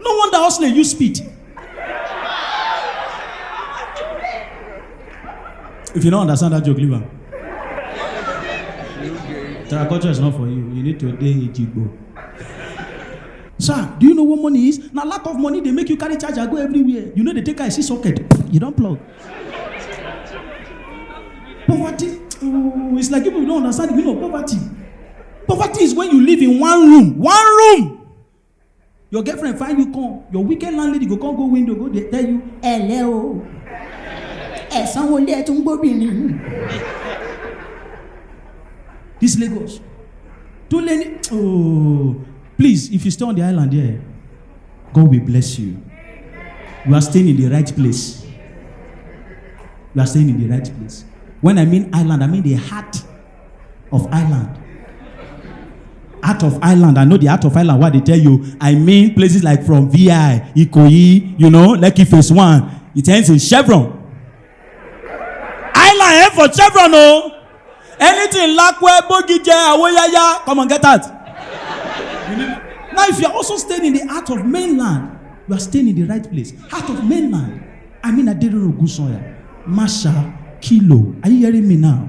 no wonder hustler use speed if you no understand that joke leave am terraculture is not for you you need to dey ejigbo sir do you know what money is na lack of money dey make you carry charger go everywhere you no dey take eye see socket you don plug poverty mm, it's like people don't understand the meaning of poverty poverty is when you live in one room one room your girlfriend find you come your wicked landlady go come go window go dey tell you ẹlẹ o ẹ sanwó ilé ẹ tún gbóbìnrin this lagos too late oh please if you stay on the island there god will bless you you are staying in the right place you are staying in the right place when i mean island i mean the heart of island out of island i know the out of island wey i dey tell you i mean places like from vi ikoyi you know lekki phase one it ends in chevron island end for chevron o anything lakwe bogije awoyaya come on get out now if you are also staying in the heart of mainland you are staying in the right place heart of mainland i mean aderoro ogunsanya masha kilo are you hearing me now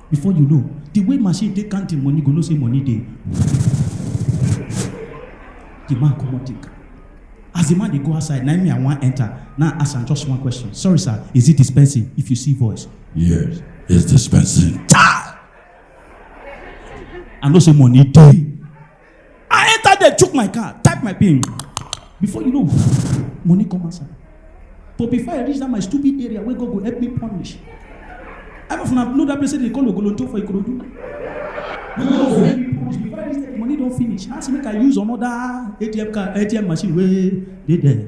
before you know the way machine take count him money go know say money dey the man comot take as the man dey go outside na me i wan enter now ask am just one question sorry sir is it dispensing if you see voice Yes, it's dispensing. i know say money dey I enter there, chook my car, type my pin. Before you know, money come outside. But before I reach that my stupid area where God go help me punish. I don't know that place they call Ogolonto for Ikorodu. Before I reach there, money don't finish. Ask make I use another ATM car, ATM machine where they there.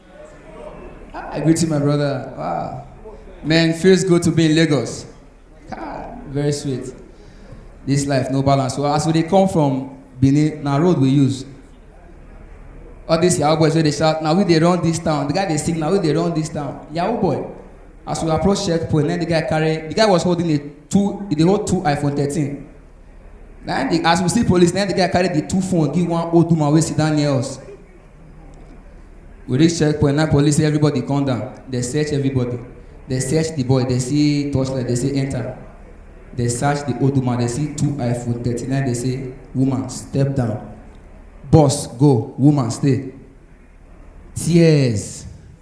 I greet you, my brother. Wow. Man, feels good to be in Lagos. Ah, very sweet. This life, no balance. Well, as we dey come from Benin, na road we use. All these Yahoo boys wey dey shout, na we dey run this town. The guy dey sing, na we dey run this town. Yahoo boy. As we approach checkpoint, then the guy carry, the guy was holding a two, he dey hold two iPhone 13. Then the, as we see police, then the guy carry the two phone, give one old woman wey sit down near us. we reach checkpoint na police say everybody come down dey search everybody dey search the boy dey see torchlight dey say enter dey search the old woman dey see two iphone thirty-nine dey say woman step down boss go woman stay tears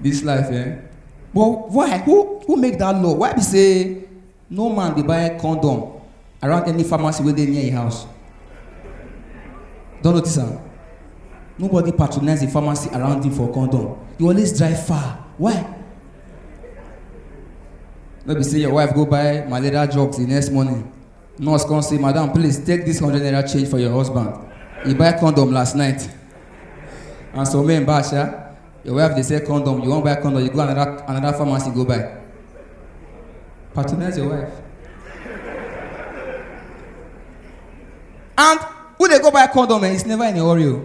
this life eh but why who who make that law why be say no man dey buy condom around any pharmacy wey dey near im house don notice am nobody patronize the pharmacy around him for condom you always drive far why no be say your wife go buy malaria drugs the next morning nurse come say madam please take this hundred naira change for your husband he buy condom last night and some men buy sha your wife dey sell condom you wan buy condom you go another another pharmacy go buy patronize your wife and who dey go buy condom eh it's never in a hurry o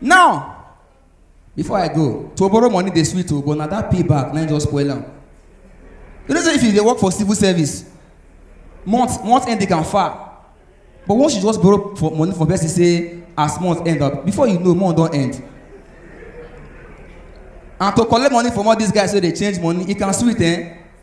now before i go to borrow money dey sweet o but na that pay back na im just spoil am you know say if you dey work for civil service month month end dey can far but once you just borrow for money from person say as month end up before you know month don end and to collect money from all these guys wey dey change money e can sweet eh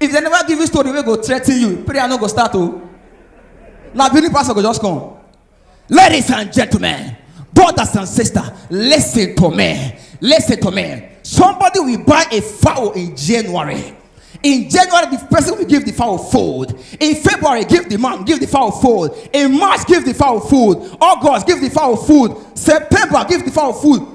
if dem never give you story wey go threaten you prayer no go start o na believe pastor go just come ladies and gentlemen brothers and sisters lis ten to me lis ten to me somebody will buy a fowl in january in january the person will give the fowl food in february give the man give the fowl food in march give the fowl food august give the fowl food september give the fowl food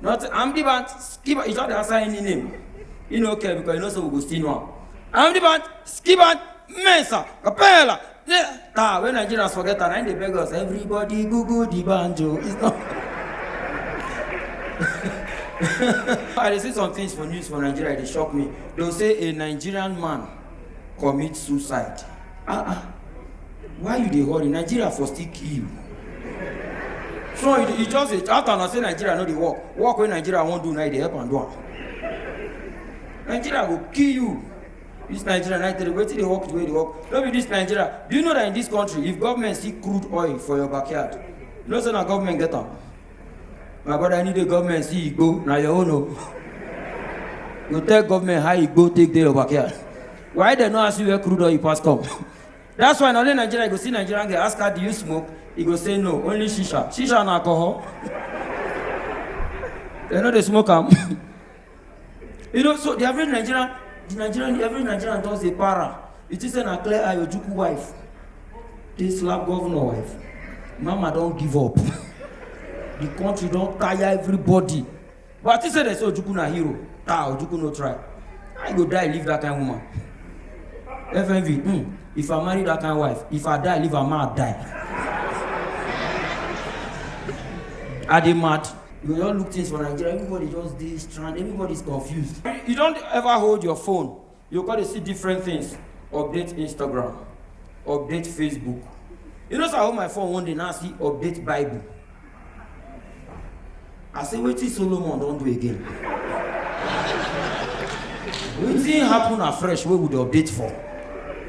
Not I'm the band. Skip. You don't answer any name. You know, okay, because you know so we go still know. I'm the band. Skip band. Mensa. Capella. Yeah. Ta, when Nigerians forget that, and they beg us, everybody Google the banjo. It's not. I dey see some things for news for Nigeria, e dey shock me. They'll say a Nigerian man commit suicide ah ah why you dey hurry nigeria for still kill you so e e just dey after una say nigeria no dey work work wey nigeria wan do na e dey help am do am nigeria go kill you this nigeria na tell you wetin dey work the way e dey work no be this nigeria do you know that in this country if government see crude oil for your backyard you know say na government get am My brother, I need the government see you go. Now your own. oh. You tell government how you go take their backyard. Why they not ask you where crude oil you pass come? That's why na only Nigeria you go see Nigerian girl ask her do you smoke? He go say no, only shisha. Shisha and alcohol. they know they smoke am. you know so the average nigerian the nigerian the average nigerian just dey para you think say na clear eye ojukwu wife dey slap governor wife mama don give up the country don tire everybody but i think say dem say ojukwu na hero ah ojukwu no try i go die leave that kind woman fmv hmm if i marry that kind wife if i die leave am ma die i dey mad. You don look things for Nigeria, everybody just dey strand, everybody is confused. You don ever hold your phone, you come dey see different things, update Instagram, update Facebook. You know say I hold my phone one day now see update Bible. I say wetin Solomon don do again? Wetin happen afresh wey we dey update for?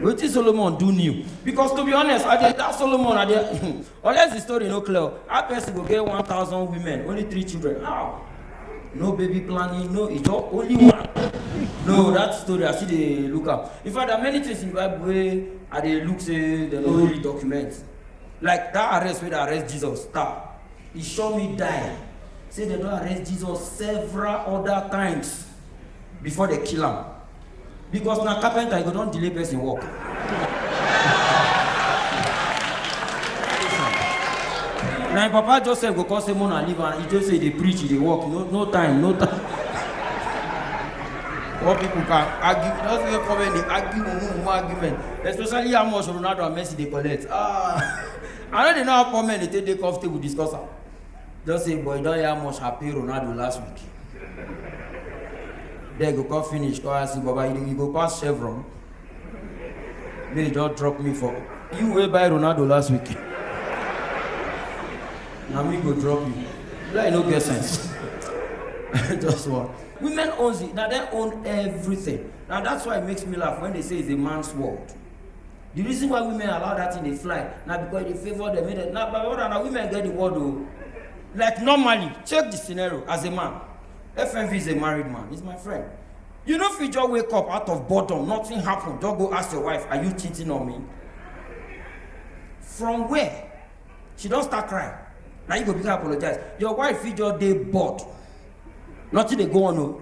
Wetin Solomon do new? Because to be honest, I dey doubt Solomon, I dey Unless the story no clear, how person go get 1,000 women, only three children? How? No baby planning, no ijo, only one. No, that story I see dey look am. In fact, there are many things in the Bible wey I dey look say dem no really document. Like that arrest wey dey arrest Jesus, star. E sure me die. Say dem don arrest Jesus several other times before dem kill am. because na carpenter you go don delay person work. na im papa joseph go come say mona leave am he just say dey preach he dey work no no time no time. What people can argue, just make comment, they argue, mumu, mumu argument. Especially how much Ronaldo and Messi they collect. Ah, I don't know how poor men they take day off table discuss am. just say boy don yarn much happy ronaldo last week there go come finish come ask you baba you, you go pass chevron make you just drop me for you wey buy ronaldo last week na me go drop you like no get sense just one women own it na dem own everything na that's why it makes me laugh when they say it's a man's world the reason why women allow that thing dey fly na because e dey favour them make dem na my brother na women get the word o like normally check the scenario as a man fnv is a married man he's my friend you no fit just wake up out of boredom nothing happen just go ask your wife are you cheating on me from where she don start cry na you go begin apologize your wife fit just dey bored nothing dey go on o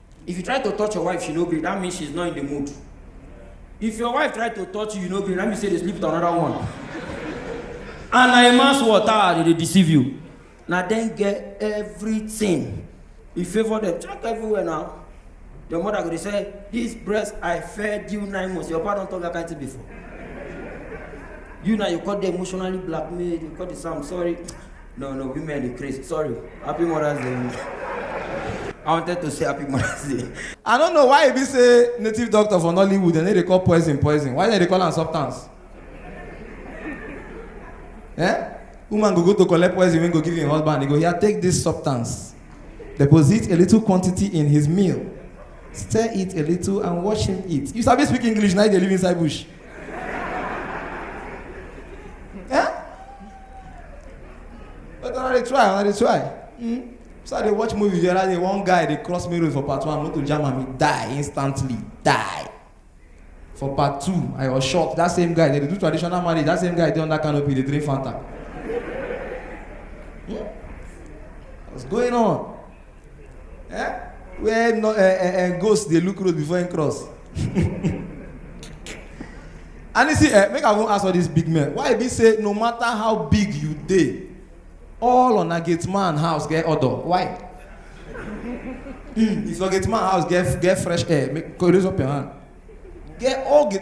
If you try to touch your wife, she no gree. That means she's not in the mood. If your wife try to touch you, you no gree. That means say they sleep with another one. and na a man's water they dey deceive you. Na dem get everything. You favour them. Check everywhere now. Your mother go dey say, this breast I fed you nine months. Your papa don talk that kind thing before. You now you call the emotionally blackmailed. You call the Sam sorry. No, no, women dey craze. Sorry. Happy Mother's Day. I wanted to say happy Mother's Day. I don't know why e be say native doctor for Nollywood dem no dey call poison poison. Why dem dey call am substance? Eh? Woman go go to collect poison wey go give im husband, e go hear take this substance. Deposit a little quantity in his meal. Stir it a little and watch him eat. You sabi speak English na you dey live inside bush. eh? but una dey try una dey try mm? so i dey watch movie the other day one guy dey cross me road for part one motor jam am he die instantly die for part two i was shocked that same guy dey dey do traditional marriage that same guy dey under canopy dey drink fanta hmm? what's going on. Eh? Where no, eh, eh, eh, ghost dey look road before him cross. and you see, eh, make I even ask all these big men. Why e be say no matter how big you dey, all on a gate man house get order? Why? Mm, if your gate man house get get fresh air, make go raise up your hand. Get all gate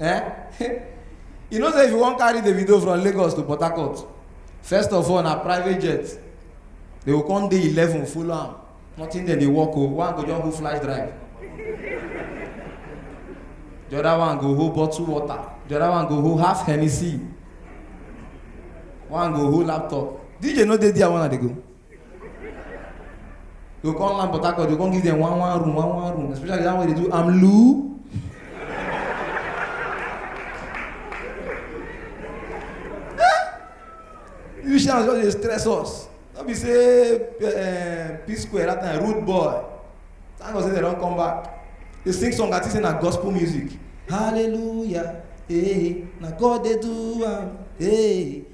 eh you know say if you wan carry the video from lagos to port harcourt first of all na private jet they go come dey eleven follow am nothing dem dey work o one go just go fly drive the other one go hold bottle water the other one go hold half hennessy one go hold laptop dj no dey there when i dey go. You go come land Port Harcourt, you go come give them one one room, one one room, especially that one wey dey do amlu. you shall just dey stress us no be say uh, p square that time rude boy thank god say they don come back dey sing song i think say na gospel music hallelujah hey, na god dey do am hey.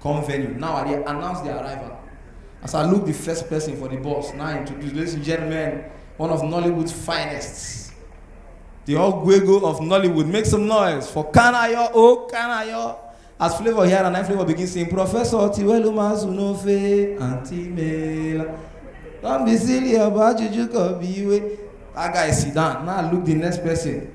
come venue. Now I dey announce the arrival. As I look the first person for the bus, now I introduce, ladies and gentlemen, one of Nollywood's finest. The Ogwego of Nollywood. Make some noise for Kanayo, oh Kanayo. As Flavor here and I Flavor begin singing, Professor Tiwelu Mazunofe, Auntie Mela. Don't be silly about Juju Kobiwe. That guy sit down. Now look the next person.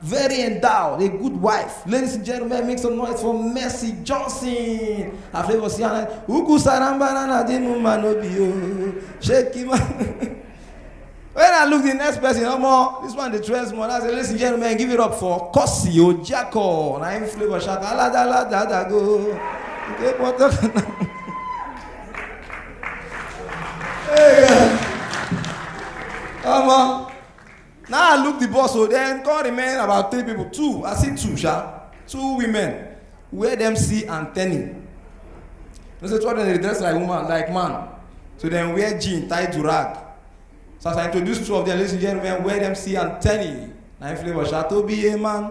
Very endowed, a good wife. Ladies and gentlemen, make some noise for Mercy Johnson. I flavor Siana. Uku sarambana na di mumma no be yo. Shake him. When I look the next person, no more. This one the trends more. I say, ladies and gentlemen, give it up for Kosi Ojako. Na him flavor shout. Ala da la da da go. Okay, what the- Hey, yeah. Come on. Na I look the bus o, then come remain about three people, two, I see two sha, two women, where dem see antennae. You know say two of them dey dress like woman, like man, so dem wear jean, tie durag. So as I introduce two of them, ladies and gentlemen, where dem see antennae, na im flavour sha, to be a man.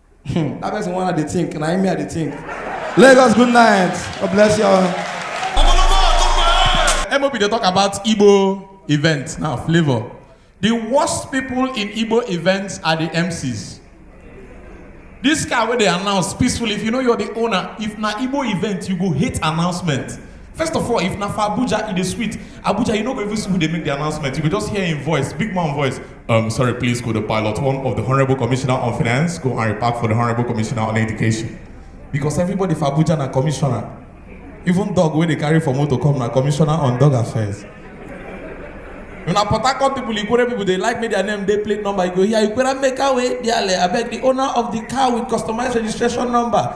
Hmm, that person one I dey think, na him me I dey think. Lagos, good night. God bless you all. MOB dey talk about Igbo events now, flavor. The worst people in Igbo events are the MCs. This car wey dey announce peacefully, if you know you're the owner, if na Igbo event, you go hate announcement. First of all, if na for Abuja, e dey sweet. Abuja, you no go even see who dey make the announcement. You go just hear im voice, big man voice. Um, sorry, please go to pilot one of the Honorable Commissioner on Finance, go and report for the Honorable Commissioner on Education. Because everybody for Abuja na commissioner. Even dog wey dey carry for motor come na commissioner on dog affairs. Una Port Harcourt people, Ikwere people, they like make their name, they plate number. You go here, Ikwere make away, dearly. I beg the owner of the car with customized registration number.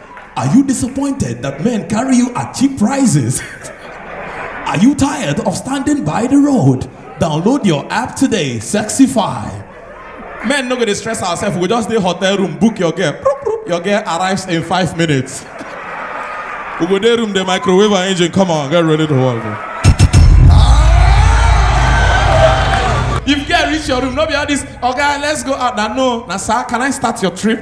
Are you disappointed that men carry you at cheap prices? Are you tired of standing by the road? Download your app today, Sexify. Men no go dey stress ourselves, we just dey hotel room, book your girl. Proop, proop. Your girl arrives in five minutes. We go dey room, the microwave and engine, come on, get ready to work. bro. If girl reach your room, no be all this, okay, let's go out. Now, no, now, sir, can I start your trip?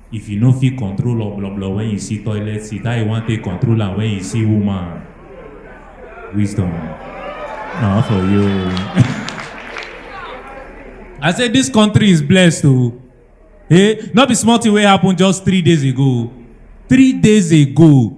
If you no fit control obloblo when you see toilet seat, how you wan take control am when you see woman? Wisdom. Na for you. I say this country is blessed o. Hey, no be small thing wey happen just three days ago. Three days ago,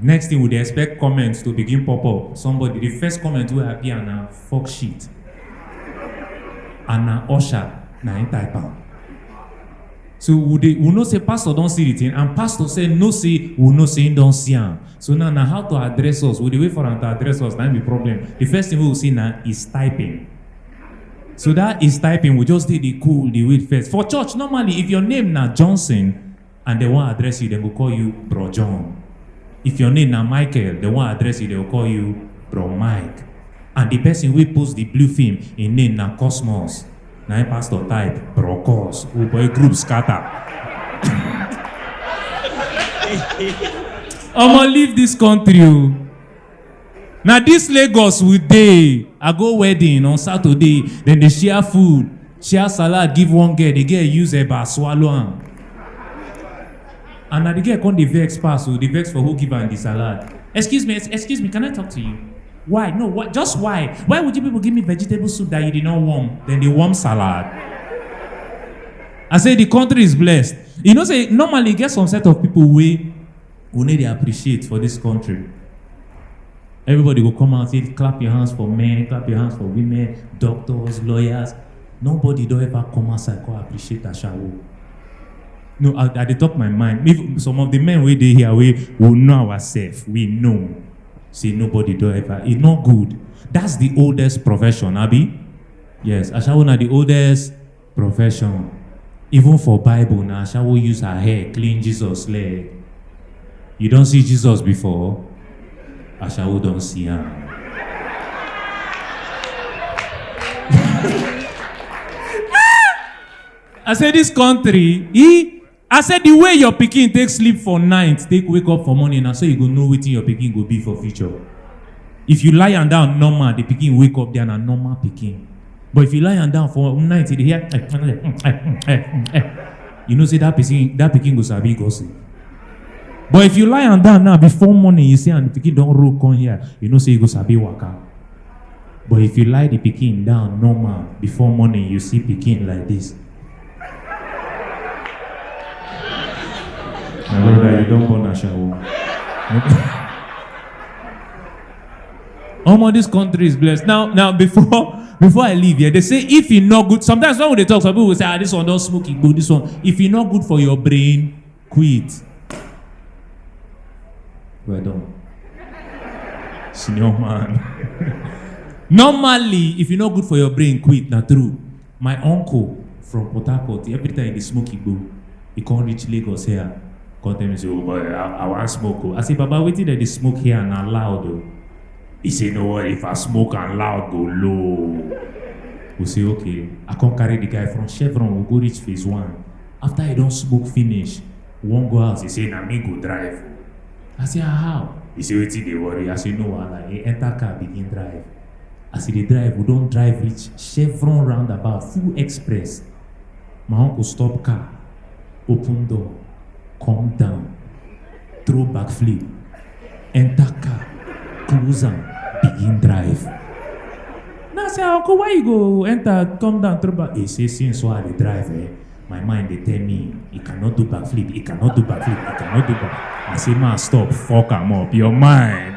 Next thing we dey expect comments to begin pop up. Somebody, the first comment wey appear na fuck shit. And na usher na him type am. So we dey we know say pastor don see the thing and pastor say no say we know say him don see am. So now na how to address us. We dey wait for am to address us na him be problem. The first thing wey we see na is typing. So that is typing we just dey dey cool dey wait first. For church normally if your name na Johnson and dem wan address you, dem go call you Bro John. If your name na Michael, dem wan address you, dem go call you Bro Mike. And the person wey post the blue film, im name na Cosmos. Na im pastor type Bro Cos. Oh boy, group scatter. Omo, leave this country o. na dis lagos we dey i go wedding on saturday dem dey share food share salad give one girl the girl use eba swallow am and na the girl come dey vex pass o dey vex for who give am the salad excuse me excuse me can i talk to you why no why just why why would you people give me vegetable soup that you did not warm then dey warm salad i say the country is blessed you know say normally e get some set of people wey we no dey appreciate for dis country everybody go come out say clap your hands for men clap your hands for women doctors lawyers nobody don ever come outside come appreciate ashawo no i i dey talk my mind even some of the men wey dey here wey we know ourselves we know say nobody don ever e no good that's the oldest profession abi yes ashawo na the oldest Profession. Even for Bible na Ashawo use her hair clean Jesus leg. You don see Jesus before? Ashawo don see am. I say this country, e I say the way your pikin take sleep for night take wake up for morning na so you go know wetin your pikin go be for future. If you lie am down normal, the pikin wake up there na normal pikin. But if you lie am down for night, you dey hear eh, eh, eh, eh, eh, eh. you know say that pikin that pikin go sabi gossip. But if you lie am down now before morning, you see and the pikin don roll come here, you know say you go sabi waka. But if you lie the pikin down normal before morning, you see pikin like this. My brother, you don't born Ashawo. Omo, this country is blessed. Now, now before before I leave here, they say if e no good, sometimes when they talk, some people will say, ah, this one don smoke igbo, this one. If e no good for your brain, quit. Well done. Senior man. Normally, if e no good for your brain, quit, na true. My uncle from Port Harcourt, every time he dey smoke igbo, he come reach Lagos here, come tell me say, oh boy, I, I wan smoke o. I say, Baba, wetin dem dey smoke here na loud o. He say, no worry, if I smoke and loud go low. We say, okay. I come carry the guy from Chevron, we go reach phase one. After he don smoke finish, we wan go house, he say, na me go drive o. I say, ah, how? He say, wetin dey worry? I say, no wahala. He enter car begin drive. As we dey drive, we don drive reach Chevron roundabout, full express. My uncle stop car, open door, come down, throw backflip, enter car, close am, begin drive. Now I say, uncle, why you go enter, come down, throw back? He say, since why I dey drive, eh, My mind dey tell me, he cannot do backflip, he cannot do backflip, he cannot do back. I say, man, stop, fuck am up, your mind.